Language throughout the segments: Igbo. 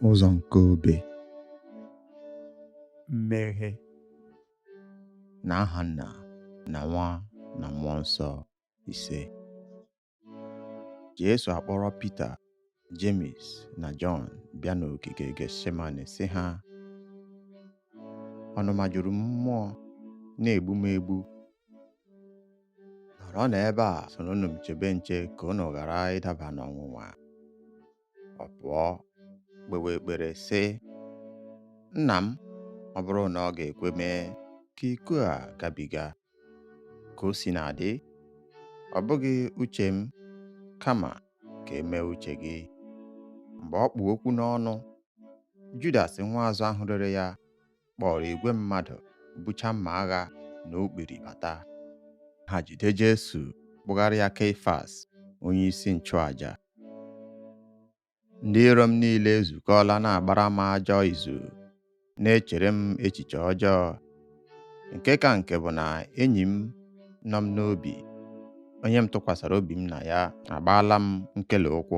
ụzọ nke obe mmeghe na aha nna na nwa na mmụọ nsọ ise Jesu akpọrọ Pita Jemis na Jọn bịa n'ogige Getsemane sị ha ọnụma juru m mmụọ na-egbu m egbu nọrọ n'ebe a soronụ m chebe nche ka unu ghara ịdaba n'ọnwụnwa ọ pụọ kpewe ekpere sị nna m ọ bụrụ na ọ ga-ekwe mee ka iko a gabiga ka o si na-adị ọ bụghị uche m kama ka e mee uche gị mgbe ọ kpụ okwu n'ọnụ Judas nwa azụ ahụ rere ya kpọrọ igwe mmadụ bucha mma agha na okpiri bata ha jide Jesu kpụgara ya Keifas onye isi nchụaja ndị iro m niile ezukọọla na-agbara m ajọ izu na-echere m echiche ọjọọ nke ka nke bụ na enyi m nọ m n'obi onye m tụkwasịrị obi m na ya agbaala m nkele ụkwụ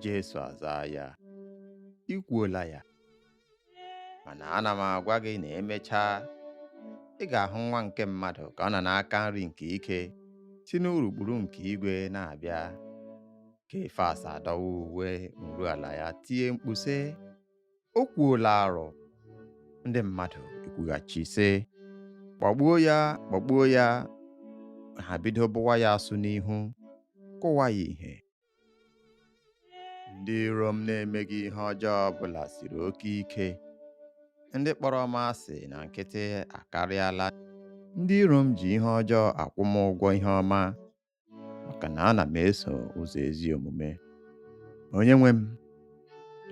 Jesu azaa ya, I kwuola ya, mana ana m agwa gị na e mechaa, ị ga-ahụ nwa nke mmadụ ka ọ nọ n'aka nri nke ike si n'urukpuru nke igwe na-abịa. Keifas adọwaa uwe nruala ya tie mkpu sị, O kwuola arụ! Ndị mmadụ ekwughachi sị, Kpọgbuo ya, kpọgbuo ya! Ha bido bụwa ya asụ n'ihu, kụwa ya ihe, ndị iro m na-emeghị ihe ọjọọ ọbụla siri oke ike ndị kpọrọ m asị na nkịtị akarịala ndị iro m ji ihe ọjọọ akwụ m ụgwọ ihe ọma maka na ana m eso ụzọ ezi omume onye nwe m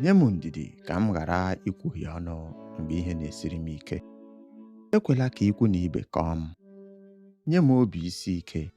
nye m ndidi ka m ghara ikwuhie ọnụ mgbe ihe na-esiri m ike ekwela ka ikwu na ibe kọọ m nye m obi isi ike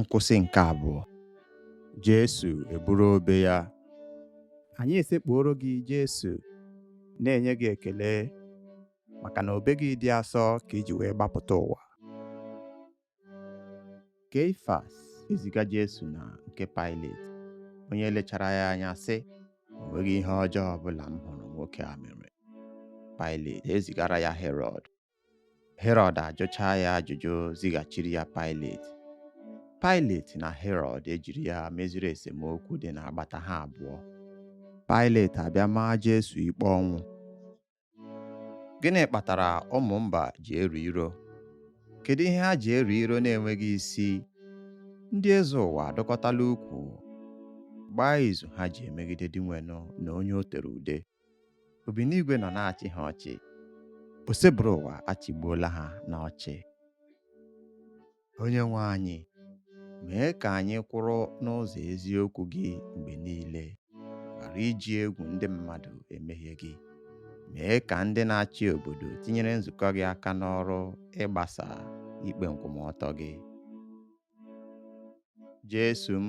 nkwụsị nke abụọ Jesu eburu obe ya anyị esekpuoro gị Jesu na-enye gị ekele maka na obe gị dị asọ ka i ji wee gbapụta ụwa Keifas eziga Jesu na nke Pailet onye lechara ya anya sị o nweghị ihe ọjọọ ọbụla m hụrụ nwoke a mere Pailet ezigara ya Herọd Herọd ajụchaa ya ajụjụ zighachiri ya Pailet. Pailet na Herọd ejiri ya meziri esemokwu dị n'agbata ha abụọ. Pailet abịa maa Jesu ikpe ọnwụ. Gịnị kpatara ụmụ mba ji ero iro? Kedu ihe ha ji ero iro na-enweghị isi? Ndị eze ụwa adọkọtala ukwu gbaa izu ha ji emegide Dinwenụ na onye o tere ude. Obinigwe nọ na-achị ha ọchị. Osebụrụwa achịgbuola ha n'ọchị. Onye nwe anyị, mee ka anyị kwụrụ n'ụzọ eziokwu gị mgbe niile, ghara iji egwu ndị mmadụ emehie gị. Mee ka ndị na-achị obodo tinyere nzukọ gị aka n'ọrụ ịgbasa ikpe nkwụmọtọ gị. Jesu m,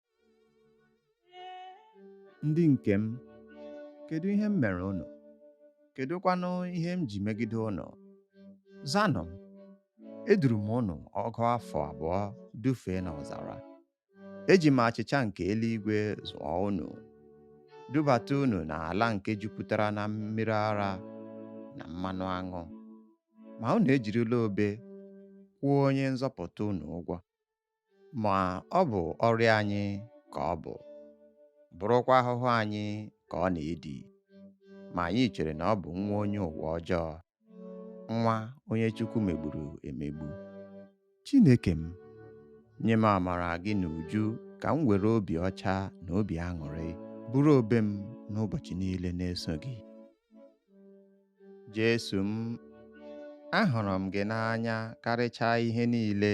ndị nke m kedu ihe m mere unu kedụkwanụ ihe m ji megide unu zanụ m eduru m unu ọgụ afọ abụọ dufee n'ọzara eji m achịcha nke eluigwe zụọ unu dubata unu n'ala nke jupụtara na mmiri ara na mmanụ aṅụ ma unu ejirila obe kwụọ onye nzọpụta unu ụgwọ ma ọ bụ ọrịa anyị ka o bu bụrụkwa ahụhụ anyị ka ọ na-edi ma anyị chere na ọ bụ nwa onye ụwa ọjọọ nwa onye Chukwu megburu emegbu Chineke m nye m amara gị n'uju ka m were obi ọcha na obi aṅụrị buru obe m n'ụbọchị niile na-eso gị Jesu m ahụrụ m gị n'anya karịchaa ihe niile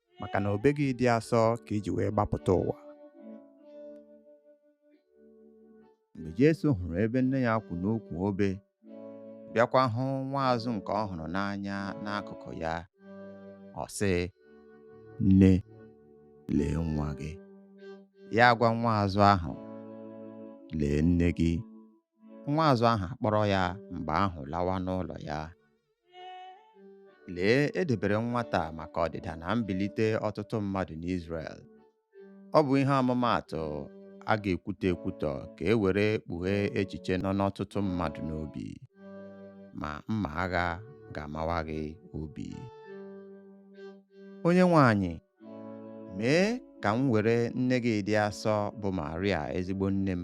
maka na obe gị dị asọ ka i ji wee gbapụta ụwa mgbe Jesu hụrụ ebe nne ya kwụ n'ukwu obe bịakwa hụ nwa azụ nke ọ hụrụ n'anya n'akụkụ ya ọ sị nne lee nwa gị ya agwa nwa azụ ahụ lee nne gị nwa azụ ahụ akpọrọ ya mgbe ahụ lawa n'ụlọ ya Lee, e debere nwata a maka ọdịda na mbilite ọtụtụ mmadụ n'Izrel. Ọ bụ ihe ọmụmaatụ a ga-ekwutọ ekwutọ ka e were kpughee echiche nọ n'ọtụtụ mmadụ n'obi, ma mma agha ga-amawa gị obi. Onyenwe anyị, mee ka m were nne gị dị asọ bụ Maria ezigbo nne m,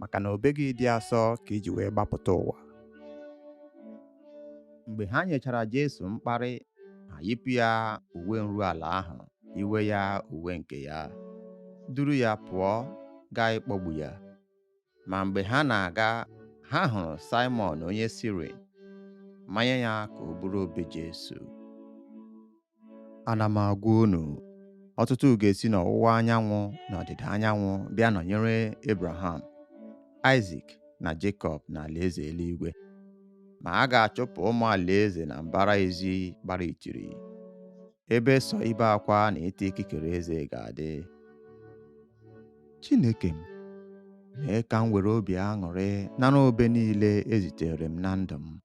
maka na obe gị dị asọ ka i ji wee gbapụta ụwa mgbe ha nyechara Jesu mkparị ha yipụ ya uwe nru ala ahụ yiwe ya uwe nke ya duru ya pụọ gaa ịkpọgbu ya ma mgbe ha na-aga ha hụrụ Simon onye Sirin manye ya ka o buru obe Jesu ana m agwa unu ọtụtụ ga-esi n'ọwụwa anyanwụ na ọdịda anyanwụ bịa nọnyere Abraham Isak na Jekọb n'alaeze eluigwe ma a ga-achụpụ ụmụ alaeze na mbara ezi gbara itiri ebe sọ ibe akwa na ịta ikikere eze ga-adị Chineke m mee ka m were obi aṅụrị nara obe niile e zitere m na ndụ m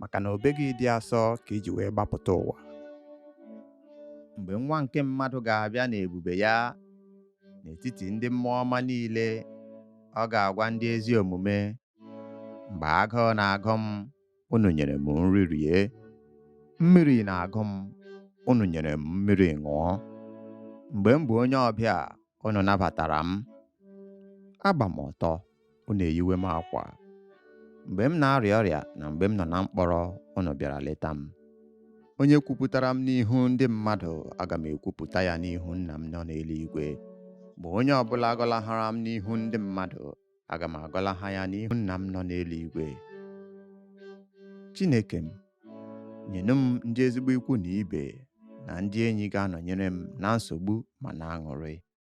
maka na obe gị dị asọ ka i ji wee gbapụta ụwa mgbe nwa nke mmadụ ga-abịa n'ebube ya n'etiti ndị mmụọ ọma niile ọ ga-agwa ndị ezi omume mgbe agụụ na-agụ m unu nyere m nri rie mmiri na-agụ m unu nyere m mmiri ṅụọ mgbe m bụ onye ọbịa unu nabatara m agba m ọtọ unu eyiwe m akwa. Mgbe m na-arịa ọrịa na mgbe m nọ na mkpọrọ, unu bịara leta m. Onye kwupụtara m n'ihu ndị mmadụ, aga m ekwupụta ya n'ihu Nna m nọ n'eluigwe. Ma onye ọbụla gọlahara m n'ihu ndị mmadụ, aga m agọlaha ya n'ihu Nna m nọ n'eluigwe. Chineke m, nyenụ m ndị ezigbo ikwu na ibe na ndị enyi ga-anọnyere m na nsogbu ma n'aṅụrị.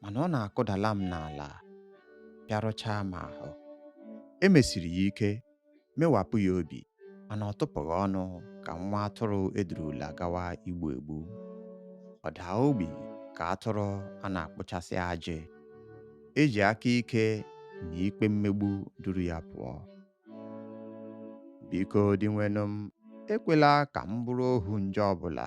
mana ọ na-akụdala m n'ala pịarụchaa m ahụ e mesiri ya ike mewapụ ya obi mana ọ tụpụghị ọnụ ka nwa atụrụ e durula gawa igbu egbu ọ daa ogbi ka atụrụ a na-akpụchasị ajị e ji aka ike na ikpe mmegbu duru ya pụọ biko dinwenụ m ekwela ka m bụrụ ohu njọ ọbụla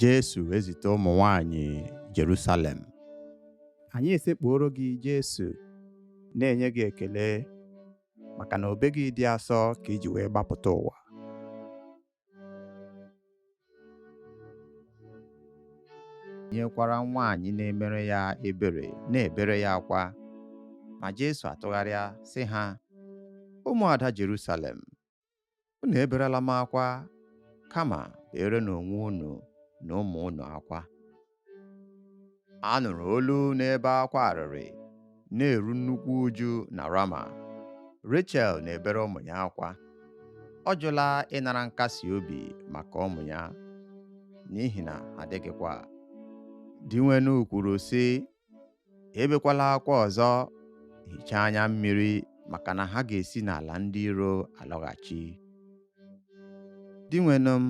Jesu ezute ụmụ nwanyị Jerusalem. Anyị esekpuoro gị Jesu, na-enye gị ekele maka na obe gị dị asọ ka i ji wee gbapụta ụwa. E nwekwara nwaanyị na-emere ya ebere na-ebere ya akwa ma Jesu atụgharịa sị ha ụmụada Jerusalem unu eberela m akwa kama berenụ onwe unu na ụmụ unu akwa a nụrụ olu na-ebe akwa arịrị na-eru nnukwu uju na Rama Rachel na-ebere ụmụ ya akwa ọ jụla ịnara nkasi obi maka ụmụ ya n'ihi na adịghịkwa Dinwenụ kwuru sị ebekwala akwa ọzọ hichaa anya mmiri maka na ha ga-esi n'ala ndị iro alọghachi dinwenụ m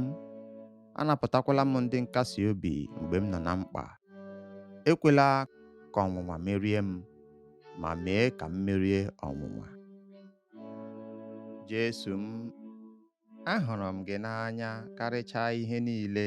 anapụtakwala m ndị nkasi obi mgbe m nọ na mkpa ekwela ka ọnwụnwa merie m ma mee ka m merie ọnwụnwa Jesu m ahụrụ m gị n'anya karịchaa ihe niile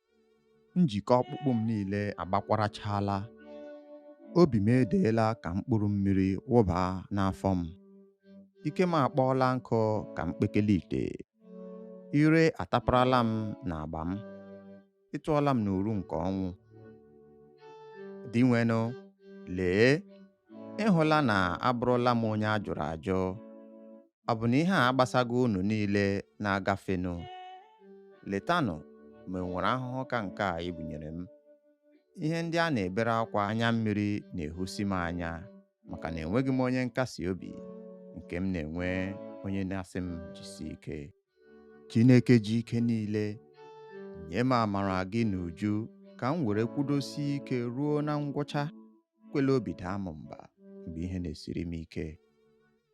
njikọ ọkpụkpụ m niile agbakwarachala obi m edeela ka mkpụrụ mmiri wụba n'afọ m ike m akpọọla nkụ ka mkpekele ite ire ataparala m n'agba m ị tụọla m n'uru nke ọnwụ dinwenụ lee ị hụla na abụrụla m onye a jụrụ ajụ ọ bụ na ihe a agbasaghị unu niile na-agafenụ letanụ ma e nwere ahụhụ ka nke a e bunyere m ihe ndị a na-ebere akwa anya mmiri na-ehusi m anya maka na enweghị m onye nkasi obi nke m na-enwe onye na-asị m jisi ike Chineke ji ike niile nye m amara gị n'uju ka m were kwudosie ike ruo na ngwụcha ekwela obi daa m mba mgbe ihe na-esiri m ike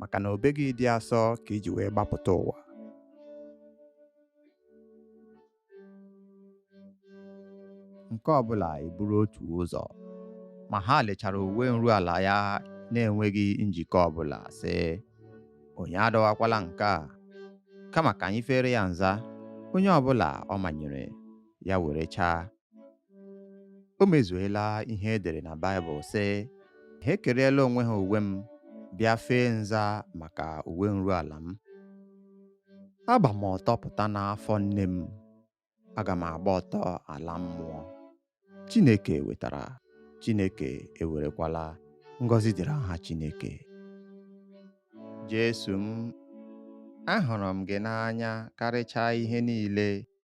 maka na obe gị dị asọ ka i ji wee gbapụta ụwa nke ọ bụla eburu otu ụzọ ma ha lechara uwe nruala ya na-enweghị njikọ ọ bụla sị onye adọwakwala nke a kama ka anyị feere ya nza onye ọ bụla ọ manyere ya were chaa o mezuela ihe e dere na Baịbụl sị ha ekerela onwe ha uwe m bịa fee nza maka uwe nruala m agba m ọtọ pụta n'afọ nne m aga m agba ọtọ ala mmụọ Chineke wetara Chineke ewerekwala ngọzi dịrị aha Chineke Jesu m ahụrụ m gị n'anya karịchaa ihe niile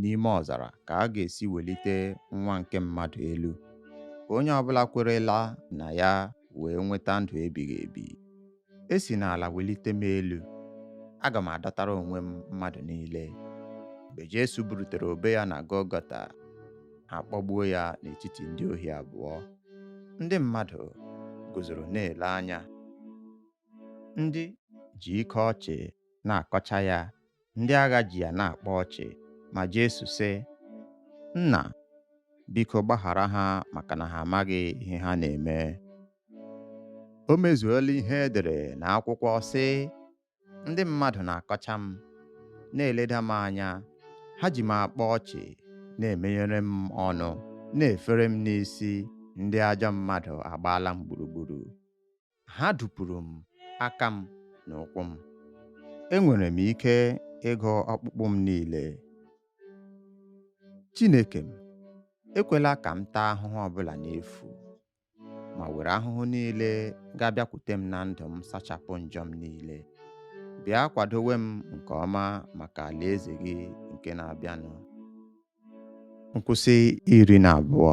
n'ime ọzara ka a ga-esi welite nwa nke mmadụ elu ka onye ọbụla kwerela na ya wee nweta ndụ ebighị ebi e si n'ala welite m elu aga m adọtara onwe m mmadụ niile mgbe Jesu burutere obe ya na Gọlgọta a kpọgbuo ya n'etiti ndị ohi abụọ ndị mmadụ guzoro na-ele anya ndị ji ike ọchị na-akọcha ya ndị agha ji ya na-akpa ọchị ma Jesu sị nna biko gbaghara ha maka na ha amaghị ihe ha na-eme o mezuola ihe e dere na akwụkwọ sị ndị mmadụ na-akọcha m na-eleda m anya ha ji m akpa ọchị na-emenyere m ọnụ na-efere m n'isi ndị ajọ mmadụ agbaala m gburugburu ha dupuru m aka m na ụkwụ m. Enwere m ike ịgụ ọkpụkpụ m niile. Chineke m, ekwela ka m taa ahụhụ ọbụla n'efu, ma were ahụhụ niile ga-abịakwute m na ndụ m sachapụ njọ m niile. Bịa kwadowe m nke ọma maka alaeze gị nke na-abịanụ. Nkwụsị iri na abụọ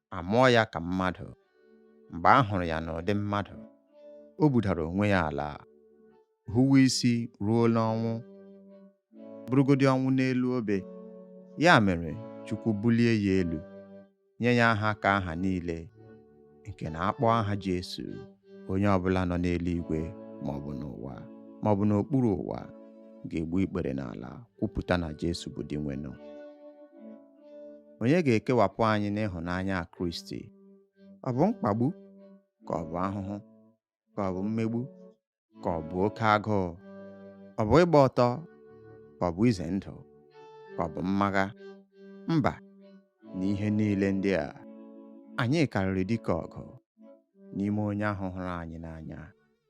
a mụọ ya ka mmadụ mgbe a hụrụ ya n'ụdị mmadụ o budara onwe ya ala huwe isi ruo n'ọnwụ bụrụgodi ọnwụ n'elu obe ya mere Chukwu bulie ya elu nye ya aha ka aha niile nke na a kpọọ aha Jesu onye ọbụla nọ n'eluigwe maọbụ n'ụwa maọbụ n'okpuru ụwa ga-egbu ikpere n'ala kwupụta na Jesu bụ Dinwenụ onye ga-ekewapụ anyị n'ịhụnanya Kristi ọ bụ mkpagbu ka ọ bụ ahụhụ ka ọ bụ mmegbu ka ọ bụ oke agụụ ọ bụ ịgba ọtọ ka ọ bụ ize ndụ ka ọ bụ mma agha mba n'ihe niile ndị a anyị karịrị dike ọgụ n'ime onye ahụ hụrụ anyị n'anya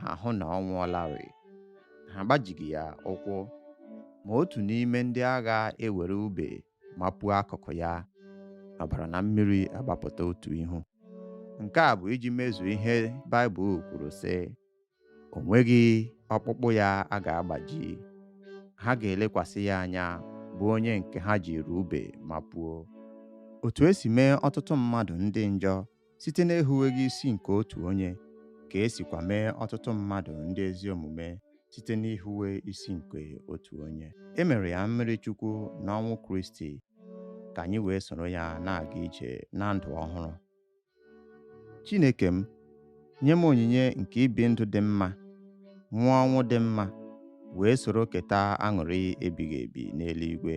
ha hụ na ọ nwụọlarị ha agbajighị ya ụkwụ ma otu n'ime ndị agha ewere ube mapuo akụkụ ya ọbara na mmiri agbapụta otu ihu nke a bụ iji mezuo ihe Baịbụl kwuru sị o nweghị ọkpụkpụ ya a ga-agbaji ha ga-elekwasị ya anya bụ onye nke ha jiri ube mapuo otu e si mee ọtụtụ mmadụ ndị njọ site n'ehuweghị isi nke otu onye ka e sikwa mee ọtụtụ mmadụ ndị ezi omume site n'ihuwe isi nke otu onye e mere ya mmiri chukwu na ọnwụ kristi ka anyị wee soro ya na-aga ije na ndụ ọhụrụ chineke m nye m onyinye nke ibi ndụ dị mma nwụọ ọnwụ dị mma wee soro keta aṅụrị ebighị ebi n'eluigwe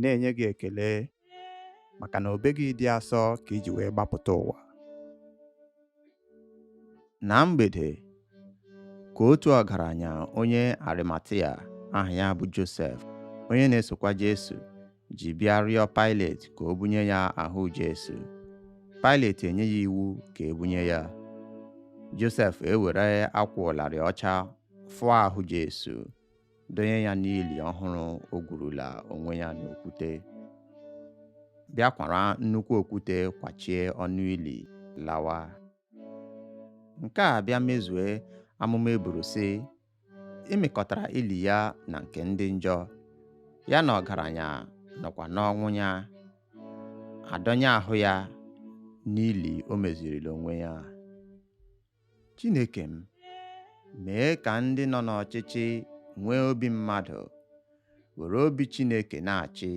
na-enye gị ekele maka na obe gị dị asọ ka i ji wee gbapụta ụwa na mgbede ka otu ọgaranya onye arimatia aha ya bụ josef onye na-esokwa jesu ji bịa rịọ Pailet ka o bunye ya ahụ Jesu Pailet enye ya iwu ka e bunye ya Josef ewere akwa ụlarị ọcha fụọ ahụ Jesu donye ya n'ili ọhụrụ o gwurula onwe ya n'okwute bịa kwara nnukwu okwute kwachie ọnụ ili lawa nke a bịa mezue amụma e buru sị e mekọtara ili ya na nke ndị njọ ya na ọgaranya nọkwa n'ọnwụ ya adọnye ahụ ya n'ili o mezirila onwe ya Chineke m, mee ka ndị nọ n'ọchịchị nwee obi mmadụ, were obi Chineke na-achị.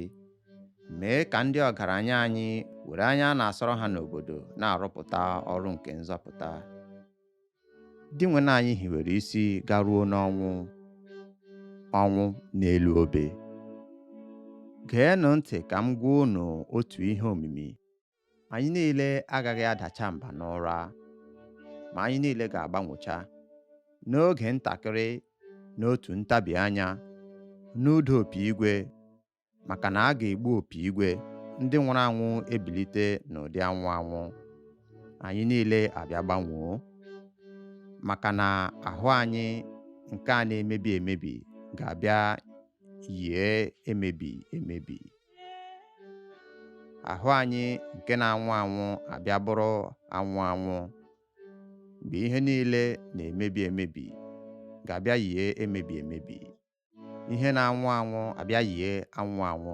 Mee ka ndị ọgaranya anyị were anya a na-asọrọ ha n'obodo na-arụpụta ọrụ nke nzọpụta. Dinwenụ anyị hiwere isi garuo n'ọnwụ, ọnwụ n'elu obe. Geenụ ntị ka m gwa unu otu ihe omimi. anyị niile agaghị adacha mba n'ụra ma anyị niile ga-agbanwocha n'oge ntakịrị n'otu ntabi anya n'ụda opi igwe maka na a ga-egbu opi igwe ndị nwụrụ anwụ ebilite n'ụdị anwụ anwụ anyị niile abịa gbanwoo maka na ahụ anyị nke a na-emebi emebi ga-abịa yie emebi emebi ahụ anyị nke na-anwụ anwụ abịa bụrụ anwụ anwụ mgbe ihe niile na-emebi emebi ga-abịa yie emebi emebi ihe na-anwụ anwụ abịa yie anwụ anwụ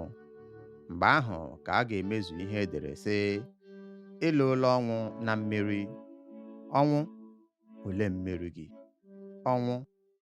mgbe ahụ ka a ga-emezu ihe e dere sị e loola ọnwụ na mmeri ọnwụ olee mmeri gị ọnwụ